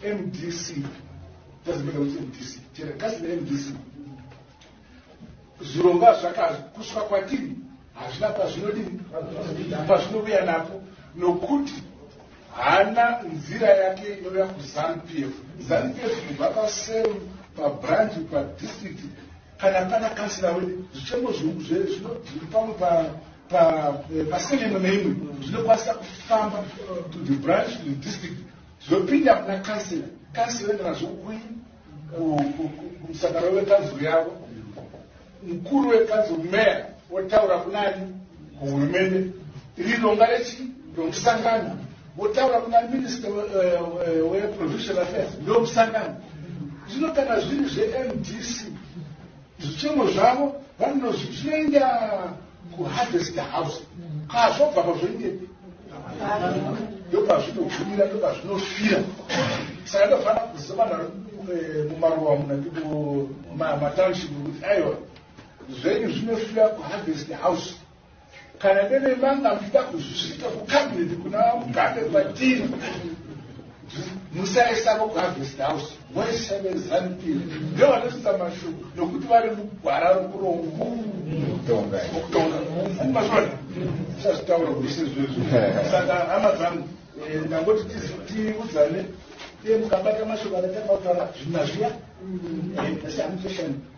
mdc tazibeka kuti mdc chera kasi nemdc zvirongwa zvakakuswa kwatiri hazvina pazvinodini pazvinouya napo nokuti hana nzira yake inouya kuzanu p f zanu p f kubva paseu pabranch padistrict kana pana kansila wede zvichemo zviuku zve zvinodii pamwe pasele imwe neimwe zvinokwanisa kufamba to the branch to the district Zvopinda kuna Kansila. Kansila oenda nazvo kui kumusangano wekanzuru yavo. Mukuru wekanzuru meya otaura kunani kuhurumende. Iri ronga rechi romusangano votaura kuna minista eh, eh, weprovincial affairs ndomusangano. Zvino kana zviri zvemdc Zvichemo zvavo vanozvi zvinoenda kuharvest house kazvobva pazvoindepi ndopazvinogumira ndopazvinofira saka ndofanira kuziva vanhu vari eh, mumaruwa muna matownship kuti aiwa zvenyu zvinofira kuharvest house Kana deve manga muchida kuzvisvika kucabinet kuna mugabe kwatiri musaisavo kuharvest house voiseve zanupir ndevanoisa mashoko nokuti vari mugwara rokurokutonga mazvona sazvitaura kuse zvezvo saka hama dzangu eh, ndangoti tiudzane iye mukabata mashoko anatapautara zvina zviya eh, asi hamuchashanda